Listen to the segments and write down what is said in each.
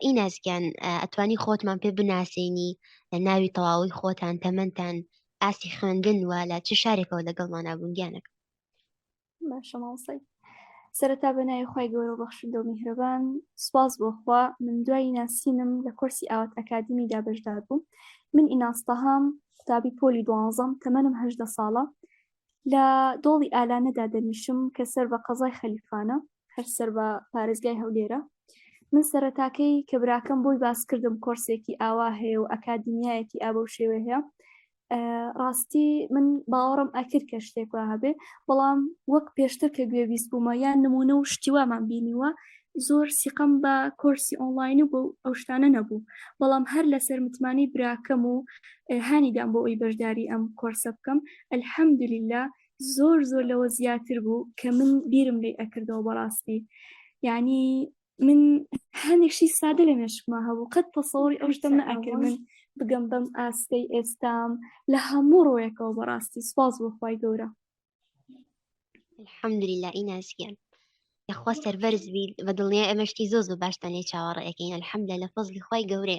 ئیناسگیان ئەتوانی خۆتمان پێ بناسیێنی لە ناوی تەواوی خۆتان تەمەندان ئاسی خوێندن وە لە چ شارێکەوە لەگەڵمان نابوونگیانەکە باشەماڵسەی سەرەتا بەنای خی گەورە بەخشندە و میهرەبان سواز بۆخوا من دوایی ناسینم لە کورسی ئاوات ئەکادمی دابشدار بووم من ئیناستەهام قوتابی پۆلی دوانزەم تەمەنم هەدە ساڵە لە دۆڵی ئالانەدا دەنیشم کە سەر بە قەزای خەلیفانە هەر سەر بە پارێزگای هەولێرە من سەرەتاکەی کە براکەم بۆی باس کردم کۆرسێکی ئاوا هەیە و ئەکادیمیایەکی ئابە و شێوێ هەیە ڕاستی من باوەڕم ئەکرد کە شتێکوا هەبێ بەڵام وەک پێشتر کە گوێبیست بوومە یان نمونە و شتیوامان بینیوە زۆر سیقم بە کۆرسی ئۆنلاین و بۆ ئەو شتانە نەبوو بەڵام هەر لەسەر متمانی براکەم و هانیدام بۆ ئەوی بەشداری ئەم کۆرسە بکەم الحمدللە زۆر زۆر لەوە زیاتر بوو کە من بیرم لی ئەکردەوە بەڕاستی یعنی من هەنێشی سادە لە مێشکما هەبوو قەت تەسەوری ئەو شتم نەئەکرد من بگەم بەم ئاستەی ئێستام لە هەموو ڕۆیەکەوە بەڕاستی سپاس بۆخوای گەورە الحمدللە ئیناسیان یخوا سەربەرز بیت بە دڵنیا ئەمەشتی زۆز بە باشتان لێ چاوەڕێەکەین الحمدە لە فەزلی خی گەورێ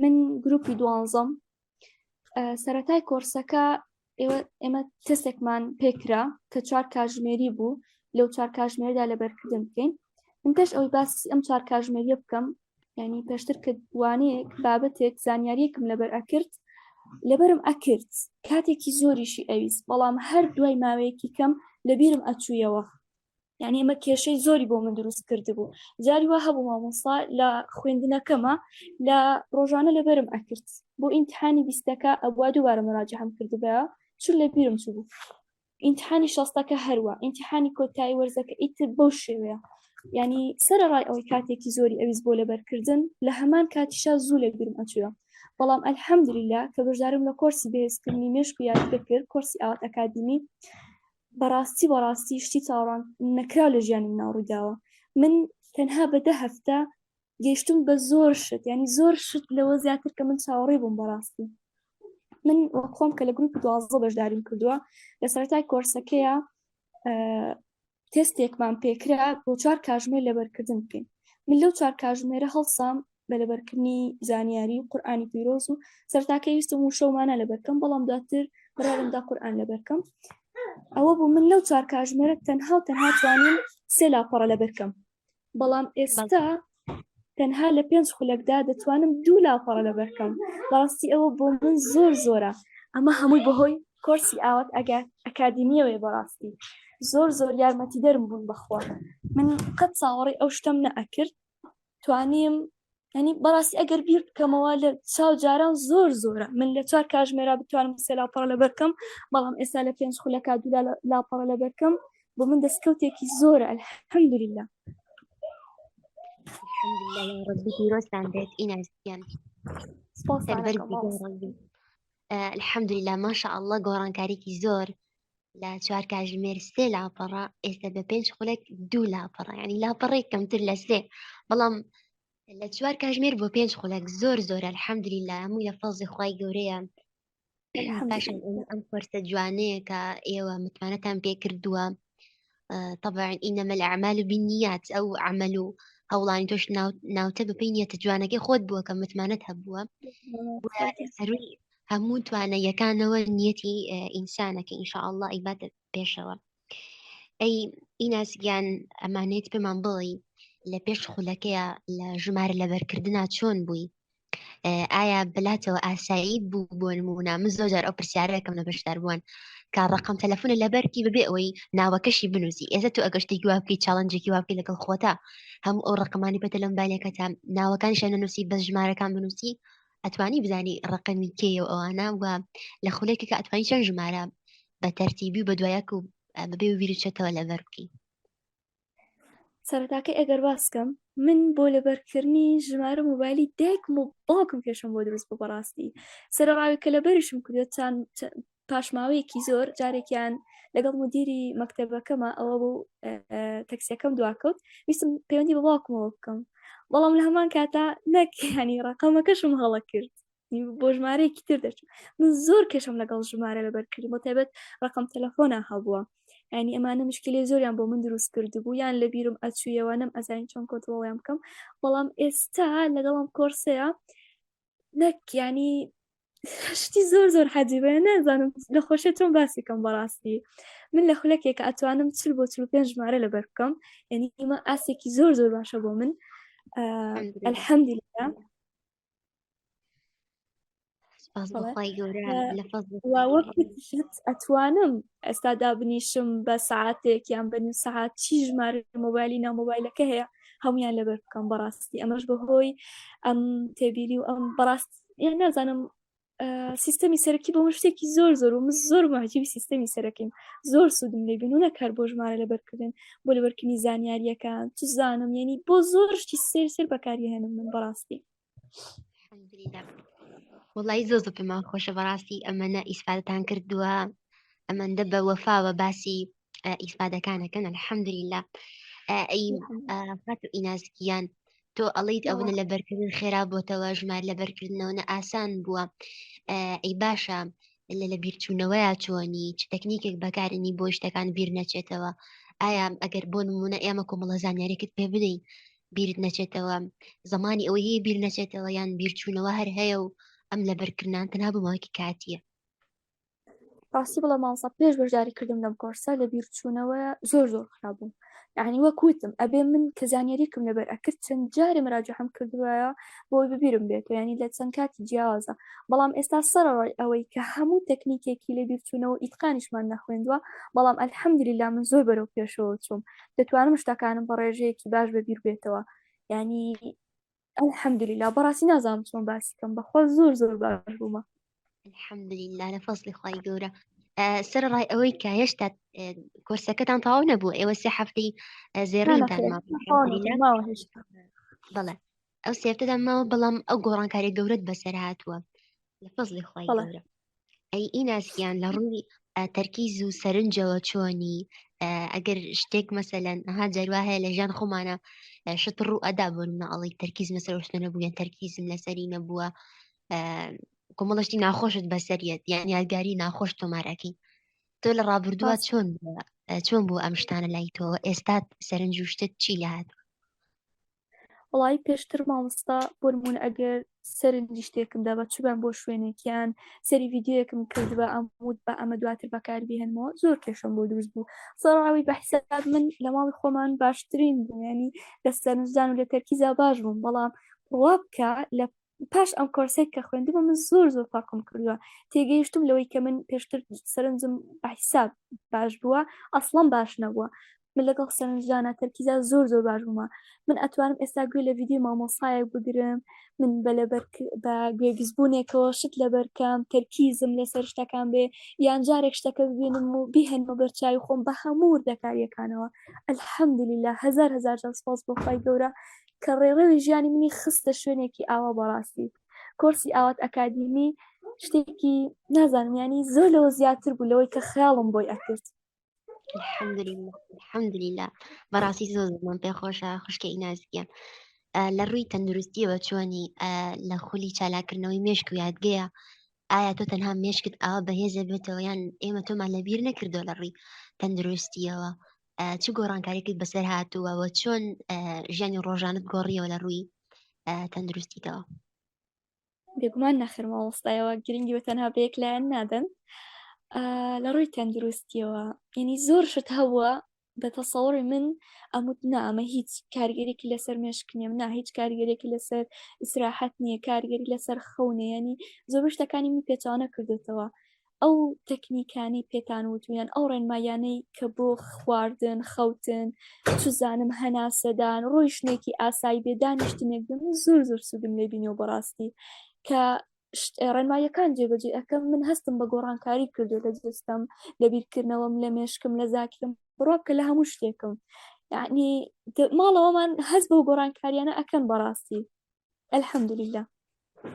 من گروپی دوانزەم سەتای کۆرسەکە ئێمە تستێکمان پێکرا کە چوار کاژمێری بوو لەو چوار کاژمێردا لە بەرکردن بکەین من پێش ئەوی باس ئەم چوار کاژمێریە بکەم ینی پێشتر کردوانەیەک بابەتێک زانیاریەکم لەبەر ئەکرد لەبەرم ئەکرد کاتێکی زۆریشی ئەویست بەڵام هەر دوای ماوەیەکی کەم لەبیرم ئەچوویەوە یعنی ئەمە کێشەی زۆری بۆ من دروست کرد بوو جاری وا هەبوو مامۆستا لە خوێندنەکەمە لە ڕۆژانە لەبەرم ئەکرد بۆ ئینتحانی بیستەکە ئەبوا دووبارە مراجە هەم کردبە چون لە بیرم چ بوو ئینتحانی شەستەکە هەروە ئینتحانی کۆتایی وەرزەکە ئیتر بەو شێوەیە ینی سەر ڕای ئەوەی کاتێکی زۆری ئەویز بۆ لەبەرکردن لە هەمان کاتیشا زوو لە بیرم ئەچوە بەڵام ئەلحەمدللا کە بەشدارم لە کۆرسی بەهێزکردنی مێشک و یادگە کرد کۆرسی ئاوات ئەکادمی بەڕاستی بەڕاستی شتی چاوەڕان نەکراو لە ژیانی مناو ڕوویداوە من تەنها بە دە هەفتە گەشتم بە زۆر شت ینی زۆر شت لەوە زیاتر کە من چاوەڕێ بووم بەڕاستی من خۆم کە لە گروپ دوازە بەشداریم کردووە لە سەرای کۆرسەکەیە تستێکمان پێکرا بۆ چوار کاژمێر لەبەرکردن بکەین من لەو چوار کاژمێرە هەڵسام بە لەبەرکردنی زانیاری و قورآانی پیرۆز و سەرتاکە ویستم و شەومانە لەبەرکەم بەڵام دواتر بڕارمدا قورآان لەبەرکەم ئەوە بوو من لەو چوار کاژمێرە تەنها و تەنها توانم سێ لاپەڕە لەبەرکەم بەڵام ئێستا تەنها لە پێنج خولەکدا دەتوانم دوو لاپەڕە لەبەرکەم بەڕاستی ئەوە بۆ من زۆر زۆرە ئەمە هەمووی بەهۆی کۆرسی ئاوات ئەگەر ئەکادیمیەوەی بەڕاستی زۆر زۆر یارمەتی دەرم بوون بەخوا من قەت ساوەڕی ئەو شتم نەئەکرد توانیم ینی بەڕاستی ئەگەر بیر بکەمەوە لە چاو جاران زۆر زۆرە من لە چوار کاژمێرا بتوانم سێ لاپەڕە لە بەرکەم بەڵام ئێستا لە پێنج خولەکە دولا لاپەڕە لە بەرکەم بۆ من دەستکەوتێکی زۆرە الحمدلله ربی پیرۆستان بێت ئیناستیان الحمدلله ماشاء الله گۆڕانکاریکی زۆر لە چوار کاژمێر سێ لاپەڕە ئێستا بە پێنج خولێک دوو لاپەڕە ینی لاپەڕی کەمتر لە سێ بەڵام لە چوار کاژمێر بۆ پێنج خولێک زۆر زۆر الحەمدری لە هەمووی لە فەزی خی گەورەیە باشم ئەم فۆرسە جوانەیە کە ئێوە متمانەتان پێ کردووە طبعا ئینەمە لە ئەعمال و بینیات ئەو عمل و هەوڵانی تۆش ناوتە بەپی نیەتە جوانەکەی خۆت بووە کە متمانەت هەبووە سەروی هەموو توانە یەکانەوە نیەتی ئینسانەکە ئینشاءله ئیباتە پێشەوە ئەی ئیناسگیان ئەمانێت پێمان بڵی لە پێش خولەکەیە لە ژمارە لەبەرکردنا چۆن بووی ئایا بلاتەوە ئاسایی بوو بۆ نمونە من زۆر جار ئەو پرسیارەکەم لە بەشدار بوون کە ڕقم تەلەفۆنە لە بەرکی ببێ ئەوەی ناوەکەشی بنووسی ئێزە تو ئەگەشتی گوواپی چاڵنجێکی واپی لەگەڵ خۆتا هەموو ئەو ڕقمانی پێتە لەم بالێکە تا ناوەکان شە نەنووسی بە ژمارەکان بنووسی ئەتوانی بزانی ڕقمی کێ و ئەوانە و لە خولێکی کە ئەتوانی چەند ژمارە بە تەرتیبی و بە دوایەک و بەبێ ویرچێتەوە لە بەرکی سەرتاکەی ئەگەر باسکەم من بۆ لەبەرکردنی ژمارە موبایلی دایکم و باوکم کێشم بۆ دروست بوو بەڕاستی سەرڕاوی کە لەبەرشم کردێت چند پاشماوەیەکی زۆر جارێکیان لەگەڵ مدیری مەکتتەبەکەمە ئەوە بوو تەکسیەکەم دواکەوت ویستم پەیوەندی بە باوکمەوە بکەم بەڵام لە هەمان کاتا نەکیانی ڕقەمەکەشم هەڵە کرد بۆ ژمارەیەکی تر دەچم من زۆر کێشم لەگەڵ ژمارە لە بەرکردی بۆ تایبەت ڕقم تەلەفۆنا هەبووە ینی ئەمانە مشکلی زۆریان بۆ من دروست کردبوو یان لە بیرم ئەچوویەوە نەم ئەزانین چۆن کۆنترۆڵیان بکەم بەڵام ئێستا لەگەڵم کۆرسەیە نەک ینی شتی زۆر زۆر حەجیبە نازانم لە خۆشە چۆن باسیکەم بەڕاستی من لە خولەکێکە ئەتوانم چل بۆ چل پێنج ژمارە لەبەر بکەم یعنی ئمە ئاسێکی زۆر زۆر باشە بۆ من الحەمدی ئەتوانم ئێستا دابنیشم بە ساعتێک یان بە نیم ساعت چی ژمار مۆبایلی نامۆبایلەکە هەیە هەمویان لەبەر بکەم بەڕاستی ئەمەش بەهۆی ئەم تێبیری و ئەم بەڕاست یان نازانم سیستەمی سەرەکی بۆ من شتێکی زۆر زۆر و من زۆر ماجیبی سیستەمی سەرەکیم زۆر سوودم لێ بین و نەکار بۆ ژمارە لەبەرکردن بۆ لەبەرکردنی زانیاریەکان چ زانم یعنی بۆ زۆر شتی سێر سێر بەکاری هێنم من بەڕاستی وڵی زۆ زۆ پێمان خۆشە بەڕاستی ئەمەە ئیسفادتان کردووە ئەمەندە بە وەفاوە باسی ئیفادەکانەکەن الحەمدللا ئەی خەت و ئینازکیان تۆ ئەڵیت ئەوە لە بەرکردن خێرا بۆتەوە ژمار لە بەرکردنەوە ئاسان بووە ئەی باشە لە لە بیرچوونەوەیە چۆنی چ تەکنیکێک بەکارنی بۆ شتەکان بیر نەچێتەوە ئایا ئەگەر بۆ نمونە ئێمە کۆمەڵە زانیارێکت پێ بدەین بیرت نەچێتەوە زمانی ئەوە هەیە بیر نەچێتەوە یان بیرچوونەوە هەر هەیە و ئەم لە بەرکردان تەنا بماوەکی کاتیە ڕاستی بڵە ماوەسا پێش بەشداری کردم لەم کۆرسە لە بیرچوونەوە زۆر زۆر خراپبووم یعنی وەکوتم ئەبێ من کە زانیاریکم لەبەر ئەکرد چەند جارێ مراجحم کردوایە بۆی ببیرم بێت ینی لە چەند کاتی جیاوازە بەڵام ئێستا سەرڕای ئەوەی کە هەموو تەکنیکێکی لە بیرچوونەوە ئیتقانیشمان نەخوێندوە بەڵام ئەلحەمدلیلا من زۆر بەرەو پێشەوە چوم دەتوانم شتەکانم بە ڕێژەیەکی باش بەبییر بێتەوە ینی الحمدللە بەڕاستی نازانم چۆن باسی بکەم بەخوا زۆر زۆر باش بوومە الحمدللە لە فەزلی خی گەورە سەر ڕای ئەوەی کە هێشتا کۆرسەکەتان تەواو نەبوو ئێوە سێ هەفتەی زێڕانتان بەڵێ ئەو سێفتەدا ماوە بەڵام ئەو گۆڕانکاری گەورەت بەسەر هاتووە لە فەزلی خی گەورە ئەی ئیناسیان لە ڕووی تەرکیز و سەرنجەوە چۆنی ئەگەر شتێک مەسەلەن ئەها جەروا هەیە لە ژان خۆمانە شت ڕوو ئەدا بوون ئەڵی تەرکیز مەسەر شتەنە بووە تەرکیزم لەسەری نەبووە کۆمەڵشتی ناخۆشت بەسەریت یان یادگاری ناخۆش تۆمارەکەی تۆ لە ڕابردووە چۆن چۆن بوو ئەم شتانە لای تۆ ئێستا سەرنج و شتت چی لە هاتوو وڵی پێشتر مامۆستا بۆرمونون ئەگەر سەرنجی شتێکم دەبە چوبم بۆ شوێنێکیان سەری یددیوەکم کرد بە ئەمود بە ئەمە دواتر بەکاربیێنمەوە زۆر کێشم بۆ دروست بوو سەراوی بە حساب من لە ماڵی خۆمان باشترین بووێنی لە سەرنجدان و لە تەرکیزا باش بووم بەڵام ڕوا بکە لە پاش ئەم کۆرسێک کە خوێندمە من زۆر زۆر فەرقم کردووە تێگەیشتم لەوەی کە من پێشتر سەرنجم بەحیساب باش بووە ئەسڵم باش نەبووە من لەگەڵ سەرنجدانە تەرکیزا زۆر زۆر باش بوومە من ئەتوانم ئێستا گوێ لە ویددیو مامۆسایەک بگرم من بە لەبەر بە گوێبیزبوونێکەوە شت لەبەرکەم تەرکیزم لەسەر شتەکان بێ یان جارێک شتەکە ببینم و بیهێنمە بەرچوی خۆم بە هەموو دەکاریەکانەوە ئەلحەمدلیلا هزار هزار سپاس بۆ خی گەورە کە ڕێڕەوی ژیانی منی خستە شوێنێکی ئاوا بەڕاستی کۆرسی ئاوات ئەکادیمی شتێکی نازانم ینی زۆر لەوە زیاتر بوو لەوەی کە خیاڵم بۆی ئەکرد الحمدللا بەڕاستی زۆر زمان پێ خۆشە خوشکە ئینازیە لە ڕووی تەندروستیەوە چۆنی لە خولی چالاکردنەوەی مێشک و یادگەیە ئایا تۆ تەنها مێشکت ئاوا بەهێزە بێتەوە یان ئێمە تۆمان لەبیر نەکردو لە ڕووی تەندروستیەوە چ گۆڕانکاریکت بەسەر هاتووە و چۆن ژیانی ڕۆژانت گۆڕیەوە لە ڕووی تەندروستیتەوە بێگومان نەخرمە وەستایەوە گرنگی بە تەنها بەیەک لایەن نادەن لە ڕووی تەندروستیەوە یعنی زۆر شت هەبووە بە تەسەوەڕی من ئەموت نامە هیچ کارگەرێکی لەسەر مێشکنیم نا هیچ کارگەرێکی لەسەر ئیسراحەت نییە کارگەری لەسەر خەونێ ینی زۆر شتەکانی من پێچوانە کردوێتەوە ئەو تەکنیکانی پێتان وتویان ئەو ڕێنمایانەی کە بۆ خواردن خەوتن چزانم هەناسەدان ڕۆی شتێکی ئاسایی بێ دانیشتنێک بم زۆر زۆر سوودم لێبینەوە بەڕاستی کە ڕێنماییەکان جێبەجێ ئەەکەم من هەستم بە گۆڕانکاری کردو لە جستم لە بیرکردنەوەم لە مێشکم لە زاکرم بڕۆکە لە هەموو شتێکم یعنی ماڵەوەمان هەست بە گۆڕانکاریانە ئەەکەم بەڕاستی الحمدلله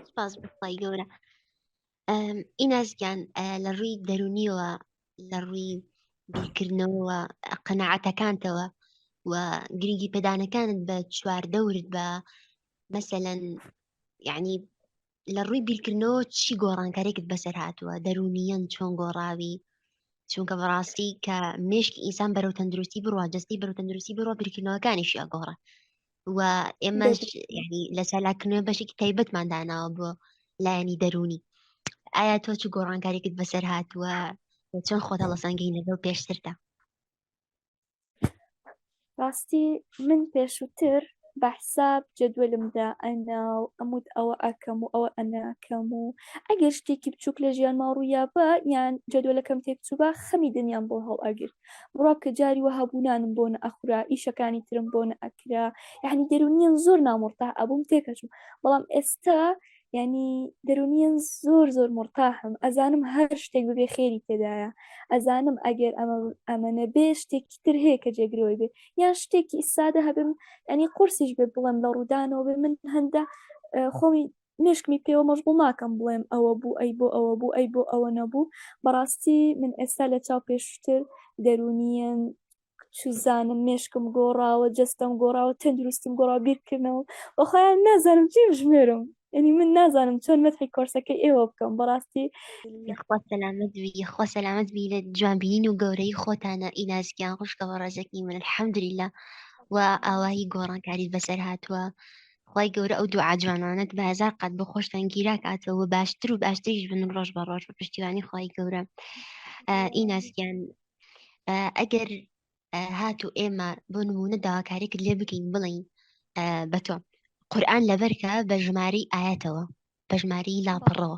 سپاس بخوای گەورە ئیناسگیان لە ڕووی دەرونیەوە لە ڕووی بیرکردنەوە قەنەعاتەکانتەوە و گرنگی پێدانەکانت بە چواردەورت بە مەسەەن یعنی لە ڕووی بیرکردنەوە چی گۆڕانکارێکت بەسەر هاتووە دەرونیەن چۆن گۆڕاوی چونکە بەڕاستی کە مشکی ئینسان بەرەو تەندروستی بڕوا جستی بەرەو تەندروستی بڕۆ بیرکردنەوەکانیشی ئەگۆڕە و ئێمەش ینی لە چالاکنوێ بەشێکی تایبەتمان داناوە بۆ لایەنی دەرونی ئایا تۆ چ گۆڕانکارێکت بەسەر هاتووە چۆن خۆتە لە سەنگی نەگەڵ پێشتردا ڕاستی من پێشووتر بە حساب جەدوەلمدا ئەنا و ئەموت ئەوە ئەکەم و ئەوە ئەناکەم و ئەگەر شتێکی بچووک لە ژیانما ڕوویا بە یان جەدوەلەکەم تێکچووبە خەمی دنیام بۆ هەڵ ئەگرت بڕوا کە جاری وە هەبوو نانم بۆ نەئەخورا ئیشەکانی ترم بۆ نەئەکرا یعنی دەرونیان زۆر نامڕتا ئەبووم تێکەچوو بەڵام ئێستا ینی دەرونیان زۆر زۆر مرتاحم ئەزانم هەر شتێک ببێ خێری تێدایە ئەزانم ئەگەر ئەمە ئەمەە بێ شتێکی تر هەیە کە جێگرەوەی بێ یان شتێکی ئیسادە هەبم ئەنی قرسیش بێ بڵم لە ڕوودانەوە بێ من هەندە خۆمی مێشکمی پێوە مەژغوڵ ناکەم بڵێم ئەوە بوو ئەی بۆ ئەوە بوو ئەی بۆ ئەوە نەبوو بەڕاستی من ئێستا لە چاو پێشوتر دەرونیەن چوزانم مێشکم گۆڕاوە جەستەم گۆڕاوە تەندروستیم گۆڕا بیرکردنەوە بەخۆیان نازانم چی بژمێرم ینی من نازانم چۆن مەتحی کۆرسەکەی ئێوە بکەم بەڕاستی خوا سەلامت بی خوا سەلامت بی لە جوانبیین و گەورەی خۆتانە ئینازگیان خوشکەوە ڕێزەکی من الحەمدللا و ئاوایی گۆڕانکاری بەسەر هاتووە خوای گەورە ئەو دوعا جوانانەت بە هەزار قات بۆ خۆشتان گیرا کاتەوە باشتر و باشتریش بن ڕۆژ بە ڕۆژ بە پشتیوانی خوای گەورە ئیناسیان ئەگەر هات و ئێمە بۆ نمونە داواکارێکت لێ بکەین بڵین بە تۆ قورآن لەبەرکە بە ژمارەی ئاەتەوە بە ژمارەی لاپەڕەوە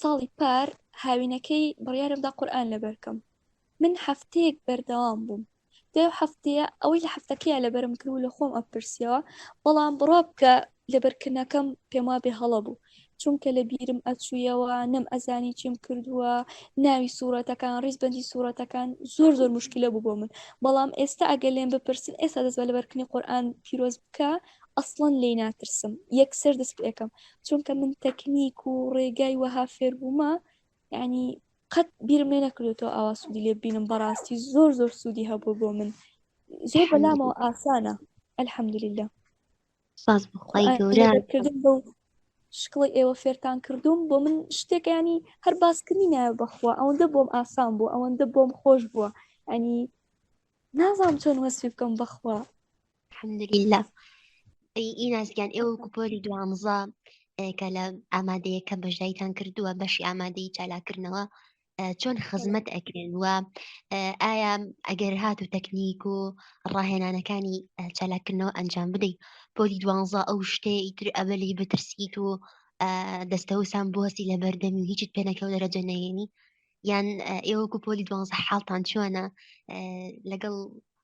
ساڵی پار هاوینەکەی بڕیارمدا قورئان لەبەرکەم من هەفتەیەک بەردەوام بووم دەو هەفتەیە ئەوەی لە هەفتەکەیە لەبەرم کرد و لە خۆم ئەپرسیەوە بەڵام بڕا بکە لەبەرکردنەکەم پێم وا بێ هەڵە بوو چونکە لە بیرم ئەچوویەوە نەم ئەزانی چیم کردووە ناوی سوورەتەکان ڕیزبندی سوورەتەکان زۆر زۆر مشکلە بوو بۆ من بەڵام ئێستا ئەگە لێم بپرسن ئێستا دەست بە لەبەرکنی قورآان پیرۆز بکە ئەسڵەن لێی ناترسم یەکسەر دەست پێکەم چونکە من تەکنیک و ڕێگای وەها فێربوومە ینی قەت بیرم لێ نەکردێتەوە ئاوا سوودی لێ بینم بەڕاستی زۆر زۆر سوودی هەبوو بۆ من زۆر بەلامەوە ئاسانە ئەلحەمدلیلا ساز بخوای گەورە کردن بەو شکڵی ئێوە فێرتان کردوم بۆ من شتێکیانی هەر باسکردنی نایە بەخوا ئەوەندە بۆم ئاسان بوو ئەوەندە بۆم خۆش بووە ئەنی نازانم چۆن وەسوی بکەم بەخوا حەمدلیلا ئی نازگیان ئێوە کوپۆری دوانزە کە لە ئامادەیەکە بەژدایتان کردووە بەشی ئامادەی چالاکردنەوە چۆن خزمەت ئەکرێن وە ئایا ئەگەر هات و تەکنیک و ڕاهێنانەکانی چالاکردنەوە ئەنجام بدەیت پۆلی دوانزە ئەو شتێ ئیتر ئەبلی بترسیت و دەستەوسان بۆستی لە بەردەمی و هیچت پێنەکەەوە دەرەجە نەیەنی یان ئێوەکو پۆلی دوانزە حاڵتان چۆنە لەگەڵ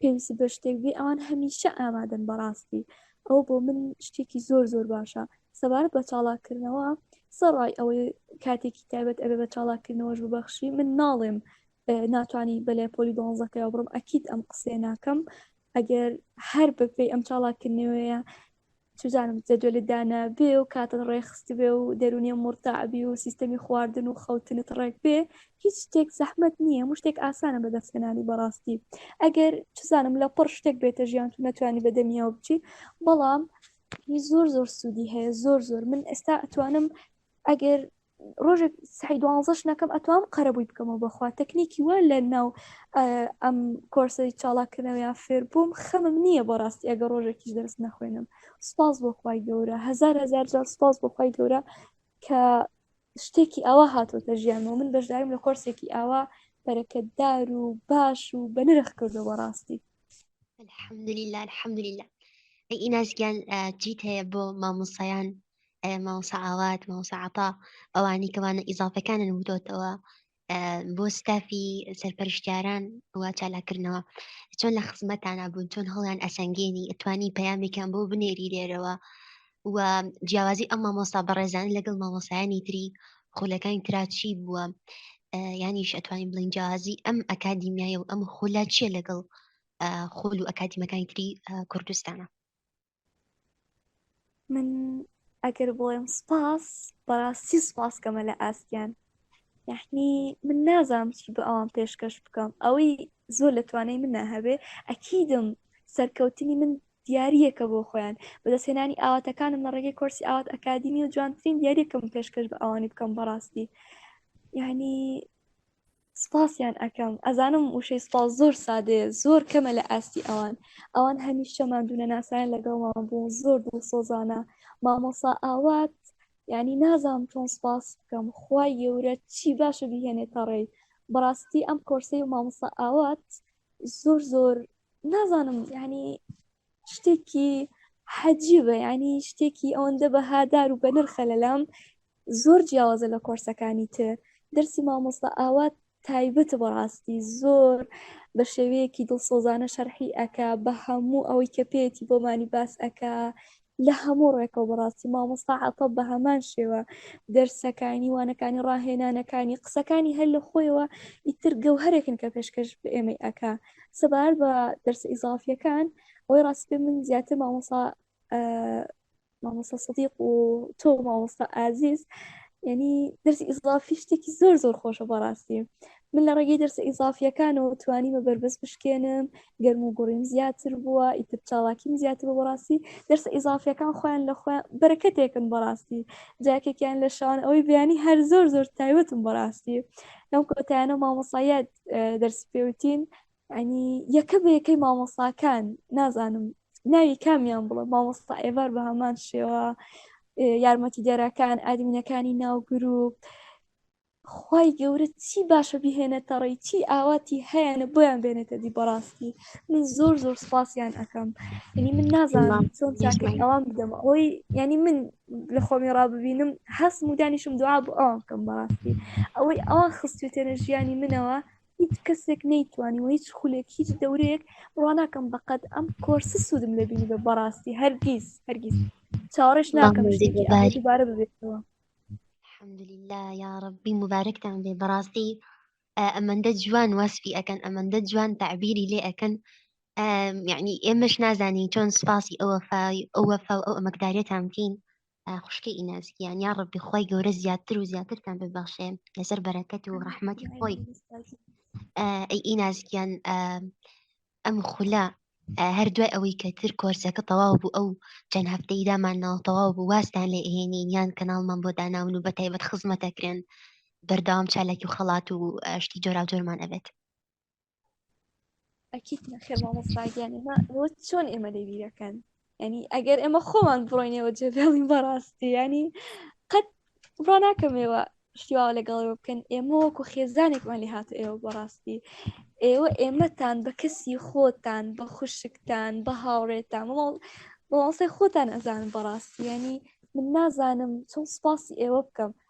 پێویست بە شتێک بێ ئەوان هەمیشە ئامادەن بەڕاستی ئەوە بۆ من شتێکی زۆر زۆر باشە سەبارەت بە چاڵاکردنەوە سەڕای ئەوەی کاتێکی تایبەت ئەبێ بە چاڵاکردنەوەش ببەخشی من ناڵێم ناتوانانی بەلێ پۆلی دۆنزەکەەوە بڕم ئەکییت ئەم قسێ ناکەم ئەگەر هەر بەپی ئەم چاڵاکردنەوەیە چوزانم جە دوێلت دانا بێ و کاتت ڕێک خستبێ و دەرونێ موڕتاع بی و سیستەمی خواردن و خەوتنت ڕێک بێ هیچ شتێک زەحمەت نیە هەموو شتێک ئاسانە بە دەست هێنانی بەڕاستی ئەگەر چوزانم لە پڕ شتێک بێتە ژیانت و نەتوانی بە دەمیەوە بچی بەڵام زۆر زۆر سودی هەیە زۆر زۆر من ئێستا ئەتوانم ئەگەر ڕۆژێک سعی دوانزەش نەکەم ئەتوام قەرەبووی بکەمەوە بەخوا تەکنیکی وە لە ناو ئەم کۆرسی چاڵاکردنەوەیان فێر بووم خەمم نییە بۆ ڕاستی ئەگە ڕۆژێکیش دەرس نەخوێنم سپاس بۆخوای گەورە هزار هزار جار سپاس بۆخوای گەورە کە شتێکی ئاوا هاتۆتە ژیانەوە من بەشداریم لە کۆرسێکی ئاوا بەرەکەتدار و باش و بەنرخ کردو بەڕاستی الحمدلله الحمدلله ئیناسگیان چیت هەیە بۆ مامۆسایان مامۆسا ئاوات مامۆسا عەتا ئەوانی کەوانە ئیزافەکانن وتۆتەوە بۆ ستافی سەرپەرشتیاران وا چالاکردنەوە چۆن لە خزمەتانە بوون چۆن هەڵیان ئەسەنگێنی ئەتوانی پەیامێکیان بۆ بنێری لێرەوە و جیاوازی ئەم مامۆسا بەڕێزان لەگەڵ مامۆسایانی تری خولەکانی تراچی بووە یانیش ئەتوانین بڵین جیاوازی ئەم ئەکادیمیای و ئەم خولە چیە لەگەڵ خول و ئەکادیمەکانی تری کوردستانە من ئەگەر بڵێم سپاس بەڕاستی سپاسکەمە لە ئاستیان یعنی من نازانم چی بە ئەوان پێشکەش بکەم ئەوەی زۆر لە توانای منە هەبێ ئەکیدم سەرکەوتنی من دیارریەکە بۆ خۆیان بەدەستێنانی ئاواتەکانم لە ڕێگەی کۆرسی ئاوات ئەکادیمی و جوانترین دیارریەکەم پێشکەش بە ئەوانی بکەم بەڕاستی یعنی سپاسیان ئەکەم ئەزانم وشەی سپاس زۆر سادەیە زۆر کەمە لە ئاستی ئەوان ئەوان هەمیشە مادونە ناسایان لەگەڵمان بوو زۆر دڵ سۆزانە مامۆسا ئاوات ینی نازام چۆن سپاس بکەم خی گەورە چی باشە بهێنێت تەڕێی بەڕاستی ئەم کۆرسی و مامۆسا ئاوات زۆر زۆر نازانم ینی شتێکی حەجیبە ینی شتێکی ئەوەندە بە هادار و بەنرخە لەلام زۆر جیاوازە لە کۆرسەکانی تر دەرسی مامۆستا ئاوات تایبەتە بەڕاستی زۆر بە شێوەیەکی دڵسۆزانە شەرحی ئەکا بە هەموو ئەوەی کە پێێتی بۆمانی باس ئەکا لە هەموو ڕێکەوە بەڕاستی مامۆستا عتە بە هەمان شێوە دەرسەکانی وانەکانی ڕاهێنانەکانی قسەکانی هەر لە خۆیەوە ئیتر گەوهرێکن کە پێشکەش بە ئێمەی ئەکا سەبار بە دەرس ئیزافیەکان ئەوەی ڕاست پێ من زیاتر مامۆسا مامۆسا سەدیق و تۆ مامۆستا ئازیز یعنی دەرسی ئیزافی شتێکی زۆر زۆر خۆشە بەڕاستی من لە ڕێگەی دەرسە ئیزافیەکانەوە توانیمە بەربەست بشکێنم گەرم و گوڕیم زیاتر بووە ئیتر چاڵاکیم زیاتر بە بەڕاستی دەرسە ئیزافیەکان خۆیان لە خۆیان بەرەکەتێکن بەڕاستی جاکێکیان لە شان ئەوەی بیانی هەر زۆر زۆر تایوەتم بەڕاستی ئەم کۆتایانە مامۆسایەت دەرس پێوتین ئەنی یەکە بە یەکەی مامۆساکان نازانم ناوی کامیان بڵە مامۆستا ئێوار بە هەمان شێوە یارمەتی دەرەکان ئادمینەکانی ناو گروپ خی گەورە چی باشە بهێنێتەڕی چی ئاواتی هەیەە بۆیان بێنێتە دی بەڕاستی من زۆر زۆر سپاسیان ئەەکەم ینی من نازانم چۆن چاکەی ئەوان بدەم ئەوی ینی من لە خۆمی ڕاببینم هەستم و دانیشم دوعا بۆ ئەوان بکەم بەڕاستی ئەوەی ئەوان خستێتێنە ژیانی منەوە هیچ کەسێک نەیتوانی و هیچ خولێک هیچ دەورەیەک ڕواناکەم بەقەت ئەم کۆرسە سوودم لەبینی بە بەڕاستی هەرگیز هەرگیز چاوەڕێش ناکەم دوبارە ببێتەوە الحمدلله یا ڕبی مبارەکتان بێ بەڕاستی ئەمەندە جوان وەسفی ئەەکەن ئەمەندە جوان تعبیری لێ ئەەکەن یعنی ئێمەش نازانین چۆن سپاسی ئەوە ئەوە فاو ئەو ئەمەکدارێتان بکەین خوشکی ئیناسکیان یا ڕبی خی گەورە زیاتر و زیاترتان ببەخشێ لەسەر بەرەکەت و ڕەحمەتی خۆی ئەی ئیناسکیان ئەم خولە هەر دوای ئەوەی کە تر کۆرسەکە تەواو بوو ئەو چەند هەفتەی دامان ناو تەواو بوو واستان لە ئێنین یان کەناڵمان بۆ داناون و بە تایبەت خزمەتەکرێن بەردەوام چالاکی و خەڵات و شتی جۆراوجۆرمان ئەبێت ئەکیت نەخێر مامۆستاگیان ئێمە ئەوە چۆن ئێمە لێ بیرەکەن ینی ئەگەر ئێمە خۆمان بڕۆینەوە جێبێڵین بەڕاستی ینی قەت بڕا ناکەمەوە شتیواوە لەگەڵەوە بکەن ئێمە وەکو خێزانێکمان لێ هاتە ئێوە بەڕاستی ئێوە ئێمەتان بە کەسی خۆتان بە خوشکتان بە هاوڕێتان بەڵسەی خۆتان ئەزانن بەڕاستی ینی من نازانم چۆن سپاسی ئێوە بکەم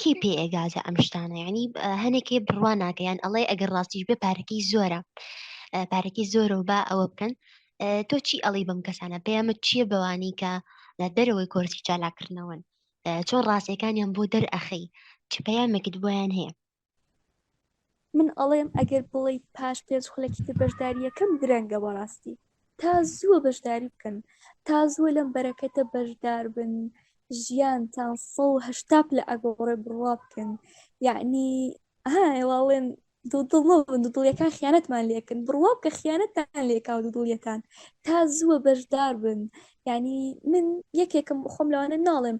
کێ پێ ئێگازە ئەم شتانە ینی هەنێکێ بڕوا ناکەیان ئەڵێ ئەگەر ڕاستیش بێ پارەکەی زۆرە پارەکەی زۆرە و با ئەوە بکەن تۆ چی ئەڵی بەم کەسانە پەیامە چییە بەوانی کە لە دەرەوەی کۆرسی چالاکردنەوەن چۆن ڕاستەکانیان بۆ دەرئەخەی چ پەیامێکت بۆیان هەیە من ئەڵێم ئەگەر بڵێ پاش پێنج خولەکی تر بەشداری یەکەم درەنگە بەڕاستی تا زووە بەشداری بکەن تا زووە لەم بەرەکەتە بەشدار بن ژیانتان سە هشتا لە ئەگۆڕێ بڕوا بکەن یعنی هاڵێن دڵیەکان خیانەتمان لەکەن بڕوا بکە خیانەتتان لێکا و دڵیەکان تا زووە بەشدار بن ینی من یەکێکم بخۆم لەوانە ناڵێم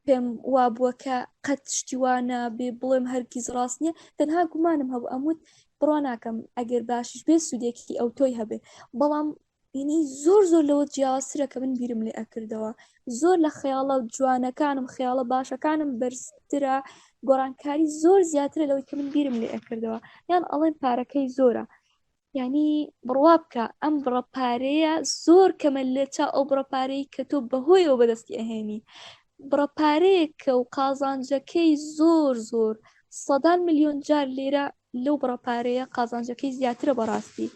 پێم وابووە کە قەت شتیوانە بێ بڵێم هەرگیز ڕاست نییە تەنها گومانم هەبوو ئەموت بڕوا ناکەم ئەگەر باشش بێ سوودێکی ئەو تۆی هەبێ بەڵام ینی زۆر زۆر لەوە جیاوازترە کە من بیرم لێ ئەکردەوە زۆر لە خەیاڵە جوانەکانم خەیاڵە باشەکانم بەرزترە گۆڕانکاری زۆر زیاترە لەوەی کە من بیرم لێ ئەکردەوە یان ئەڵێن پارەکەی زۆرە یعنی بڕوا بکە ئەم بڕە پارەیە زۆر کەمە لە چا ئەو بڕە پارەی کە تۆ بەهۆیەوە بەدەستی ئەهێنی بڕە پارەیە کە و قازانجەکەی زۆر زۆر سەدان میلیۆن جار لێرە لەو بڕە پارەیە قازانجەکەی زیاترە بەڕاستی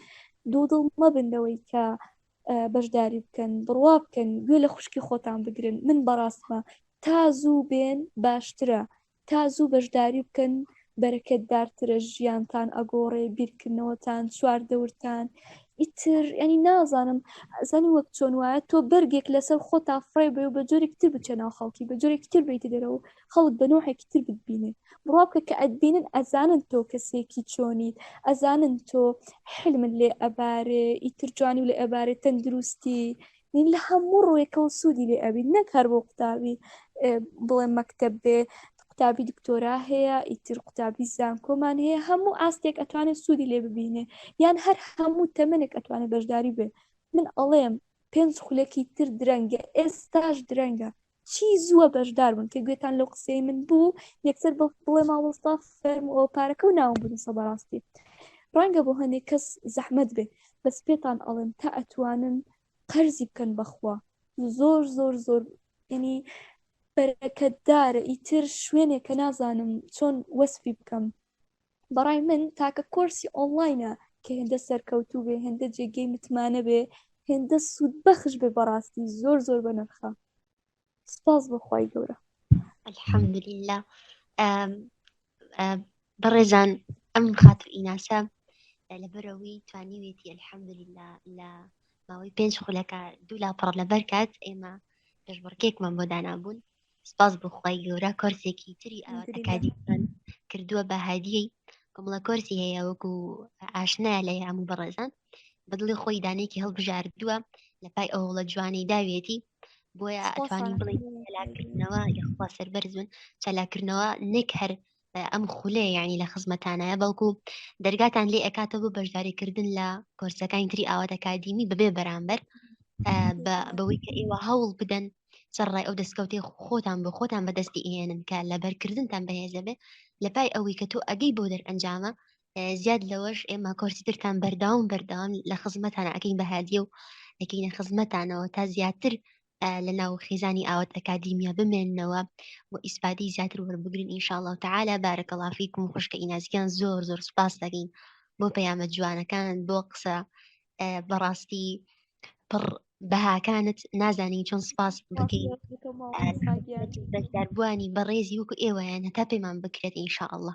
دوو دڵ مەبندەوەی کە بەشداری بکەن بڕوا بکەن گوێ لە خوشکی خۆتان بگرن من بەڕاستمە تا زوو بێن باشترە تا زوو بەشداری بکەن بەرەکەتبارترە ژیانتان ئەگۆڕێ بیرکردنەوەتان چوار دەورتان ئیتر ینی نازانم ئەزانی وەک چۆن وایە تۆ بەرگێک لەسەر خۆ تا فڕێ بێ و بە جۆرێک تر بچە ناو خەڵکی بە جۆرێک تر بیت دەرەوە خەڵک بە نوحێکی تر بتبینێ بڕا بکە کە ئەتبینن ئەزانن تۆ کەسێکی چۆنیت ئەزانن تۆ حلمن لێ ئەبارێ ئیتر جوانی و لە ئەبارێ تەندروستی نین لە هەموو ڕوویەکەەوە سوودی لێ ئەبی نەک هەر بۆ قوتابی بڵێ مەکتب بێ قوتابی دکتۆرا هەیە ئیتر قوتابی زانکۆمان هەیە هەموو ئاستێک ئەتوانێت سوودی لێ ببینێ یان هەر هەموو تەمنێک ئەتوانێت بەشداری بێ من ئەڵێم پێنج خولەکی تر درەنگە ئێستاش درەنگە چی زووە بەشدار بن کە گوێتان لەو قسەی من بوو یەکسەر بڵێ ماوەستا فەرمەوە پارەکە و ناوم بنووسە بەڕاستی ڕەنگە بۆ هەندێک کەس زەحمت بێ بەس پێتان ئەڵێم تا ئەتوانن قەرزی بکەن بەخوا زۆر زۆر زۆر ینی بەرەکەتدارە ئیتر شوێنێک کە نازانم چۆن وەسفی بکەم بەڕای من تاکە کۆرسی ئۆنلاینە کە هێندە سەرکەوتوو بێ هێندە جێگەی متمانە بێ هێندە سوود بەخش بێ بەڕاستی زۆر زۆر بە نرخە سپاس بەخوای گەورە الحەمدللا بەڕێزان ئەم خاتر ئیناسە لەبەرەوەی توانیوێتی الحەمدللا لە ماوەی پێنج خولەکە دوو لا پڕ لەبەر کات ئێمە پێشبڕکێکمان بۆ دانابوون سپاس بخوای گەورە کۆرسێکی تری ئەکادیمان کردووە بە هادیەی کۆمەڵە کۆرسی هەیە وەکو ئاشنایە لە یام و بەڕێزان بەدڵی خۆی دانێکی هەڵبژاردووە لە پای ئەوڵە جوانی داوێتی بۆیە ئەتوانی بڵێ چالاکردنەوە یخوا سەربەرزون چالاکردنەوە نەک هەر ئەم خولێ یعنی لە خزمەتانایە بەڵکو دەرگاتان لێ ئەکاتە بۆ بەشداریکردن لە کۆرسەکانی تری ئاوات ئەکادیمی بەبێ بەرامبەر بەوەی کە ئێوە هەوڵ بدەن سەرڕای ئەو دەستکەوتی خۆتان بۆ خۆتان بەدەستی ئێنن کە لە بەرکردنتان بەهێزە بێ لە پای ئەوەی کە تۆ ئەگەی بۆ دەرئەنجامە زیاد لەوەش ئێمە کۆرسیترتان بەرداوم بەرداوام لە خزمەتان ئەەکەین بەهادیە و ئەەکەینە خزمەتانەوە تا زیاتر لە ناو خیزانی ئاوات ئەکادیمیا بمێنەوە و ئیسپادی زیاتر وەربگرن ئینشاءله تعالا بارەکە لافیکم خوشکە ئینازیان زۆر زۆر سپاس دەگەین بۆ پەیامە جوانەکان بۆ قسە بەڕاستی پڕ بەهاکانت نازانین چۆن سپاس بکەینداربووانی بەڕێزی وەکو ئێوەیان هەتا پێمان بکرێت ئینشاءله